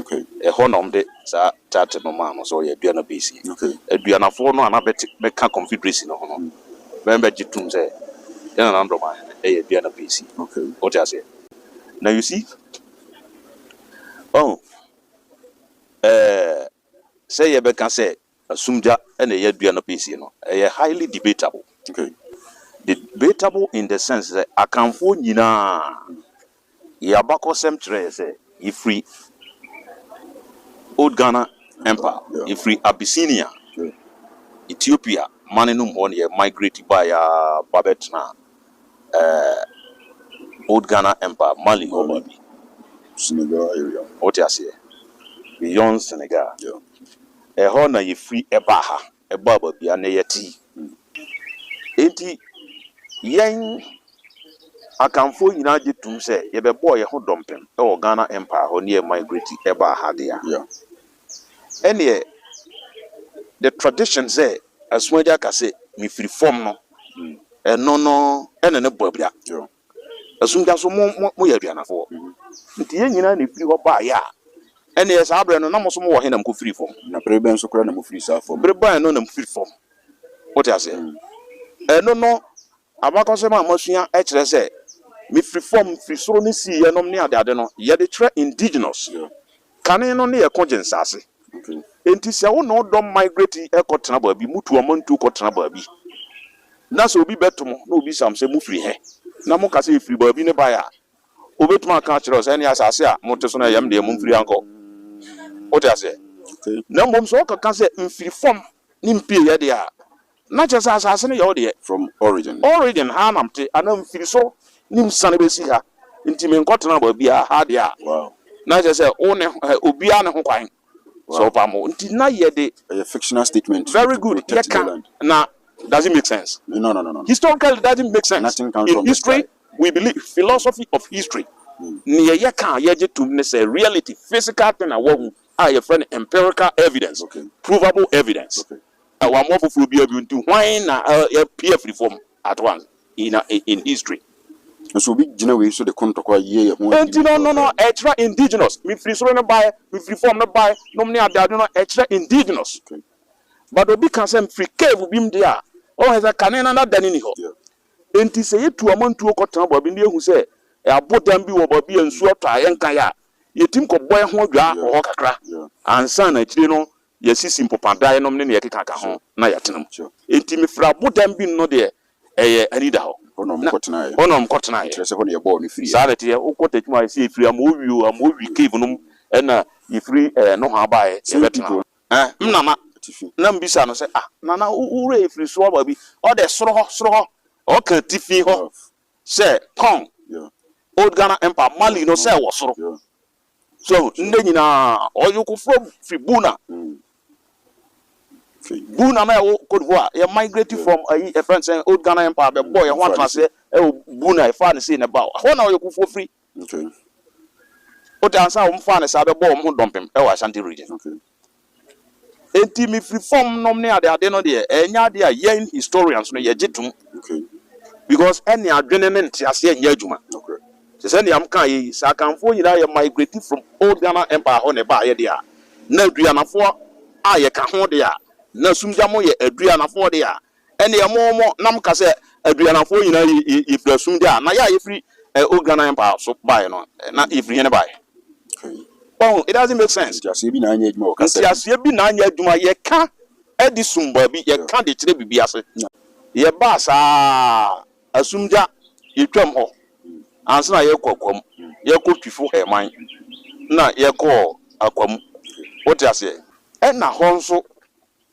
Okay. Ɛhɔ na wɔde saa chart no maa no sɛ ɔyɛ adua no base yi. Okay. Aduanafoɔ no a na bɛte bɛka confederacy no ho no, bɛn bɛgye tom sɛ yɛn Nana Ado Damanhene no yɛ adua no base yi. Okay. Wote aseɛ? Na you see, ɔhu, ɛɛ, sɛ yɛbɛka sɛ Na sumgya na ɛyɛ dua no piesie no, ɛyɛ highly debatable. Okay. Debatable in the sense sɛ Akanfoɔ nyinaa yɛ abakɔsɛm kyerɛ yɛ sɛ yɛfiri Old Ghana Empire, yɛfiri Abyssinia, Ethiopia mane no mu hɔ na yɛ migrate baeɛ ara ba bɛtenaa eh, Old Ghana Empire, Mali hɔ baabi. Senegal area. Wote aseɛ? Beyond Senegal. Yeah. Ɛhɔ na yɛfiri baa ha, baa baabi a na yɛte yi. Enti yɛn Akanfoɔ nyinaa gye tom sɛ yɛbɛbɔɔ yɛn ho dɔmpem wɔ Ghana Empire hɔ ne yɛ migrate baa ha deɛ a, ɛnneɛ the tradition sɛ Asuagya ka sɛ mefiri fam no, ɛno no na ne bɔ abira. Ɛso da so mo mo moyɛ aduanafoɔ. Nti yɛn nyinaa na ɛfiri hɔ baeɛ a, ɛnneɛ saa berɛ no na mo nso mowɔ he na mokɔfirii fam? Na bere bɛn so koraa na mofirii saa fam? Bere bɛn no na mofiri fam? Wote aseɛ? Ɛno no, abakɔsɛm a moasua kyerɛ sɛ mefiri fam, mefiri soro ne siiɛ nom ne adeade no, yɛde kyerɛ indigenous. Kane no ne ɛko gye nsaase. Enti sɛ wo ne wo dɔm migrate kɔ tena baabi, mo tu ɔmantuo kɔ tena baabi, na sɛ obi bɛto mo na obisa mo sɛ mo firi he? Na mo ka sɛ yɛfiri baabi ne bae a, obetumi aka akyerɛ wo sɛ ɛneɛ asaase a mo te so no ɛyɛ me deɛ, mo mfiri ha nkɔ. Wote aseɛ? Na mmom sɛ ɔkeka sɛ mfiri fam ne mpieɛ deɛ a, Na kyerɛ sɛ asase no yɛ wo deɛ. From origin. Origin, ha na mete, anaa mfiriso ne msiane bɛsi ha, nti menkɔtena baabiara, ha deɛ a. Wow. Na kyerɛ sɛ wo ne hɔ, obiara ne ho kwan sɛ ɔpam wo, nti na yɛde. Ɛyɛ fictional statement. Very good, yɛka na does it make sense? No, no, no, no. Historically does it make sense? Nothing comes from the sky. In history we believe, philosophy of history, neɛ yɛka a yɛgye tom ne sɛ reality, physical thing a woahu a yɛfrɛ no empirical evidence, provable evidence. Na wammoa foforɔ biara bio nti hwan na yɛapue afiri fam at once in a in history? Nso obi gyina wei so de kontɔkwa yɛ yɛn ho adi. Enti no no no ɛkyerɛ indigenous, mefiri soro no baeɛ, mefiri fam no baeɛ nom ne adeade no ɛkyerɛ indigenous. Okay. But obi ka sɛ mefiri cave bi mu deɛ a, ɔhu sɛ kane no n'adane nni hɔ. Yeah. Enti sɛ yɛtu amantuo kɔtena baabi na yɛhu sɛ abodan bi wɔ baabi a nsuo atɔ a yɛnkaeɛ a, yɛtumi kɔbɔ yɛn ho adwaa wɔ Yeah. hɔ kakra Yeah. ansa na akyire no yɛasisi mpopadan nom ne nea ɛkekaka ho na yɛatena mu. Enti mefrɛ abodan bi no deɛ ɛyɛ anidahɔ. Hɔ na wɔkɔtenaeɛ. Hɔ na wɔkɔtenaeɛ. Ɛkyerɛ sɛ hɔ na yɛbɔɔ no firiiɛ. Saa na ɛteɛ. Wokɔ Techiman a, yɛsi yɛfiri Amowi o, Amowi cave nom na yɛfiri nohoa baeɛ sɛ yɛbɛtena hɔ. Me nana, na mebisa no sɛ, Ah, nana, wo werɛ afiri so aba bi? Ɔde, Soro hɔ, soro hɔ. Ɔka atifi hɔ sɛ, Kong, Old Ghana Empire, Mali no sɛ ɛwɔ soro. So ndɛ nyina ɔyoko fo fri Bouna Bouna na ɛwɔ Côte d'Ivoire yɛ migrate from ayi yɛfrɛ no sɛn Old Ghana Empire bɛbɔ yɛn ho atenaseɛ ɛwɔ Bouna yɛfaa no sei na ɛba hɔ na ɔyoko fo fri wote ansa wɔn faa no saa bɛbɔ wɔn ho dɔmpem ɛwɔ Ashanti region Enti mefiri fam nom ne adeade no deɛ, ɛnyɛ adeɛ a yɛn historians no yɛgye tom. Because ɛne adwene ne nteaseɛ nyɛ adwuma. Te sɛ nea mekaeɛ yi, sɛ Akanfoɔ nyinaa yɛ migrate from Old Ghana Empire hɔ na ɛbaeɛ deɛ a, na Aduanafoɔ a yɛka ho deɛ a, na Sumgyam yɛ Aduanafoɔ deɛ a, Ɛnneɛ mo, mo nam ka sɛ, Aduanafoɔ nyinaa yɛ, yɛ, yɛfiri asumdɛ a, na yɛ a yɛfiri eh, Ogranan Empire so baeɛ no, eh, na yɛfiri he ne baeɛ? Wahu? It doesn't make sense. Nteaseɛ bi na anyɛ adwuma wɔ kasa bi. Nteaseɛ bi na anyɛ adwuma. Yɛka de sum baabi, yɛka de kyerɛ biribi ase. Yɛbaa saa asumdya, yɛtwaam hɔ ansa na yɛrekɔ Akwa mu. Yɛkɔ Twifo Herman na yɛkɔɔ Akwa mu. Wote aseɛ? Ɛna hɔ nso,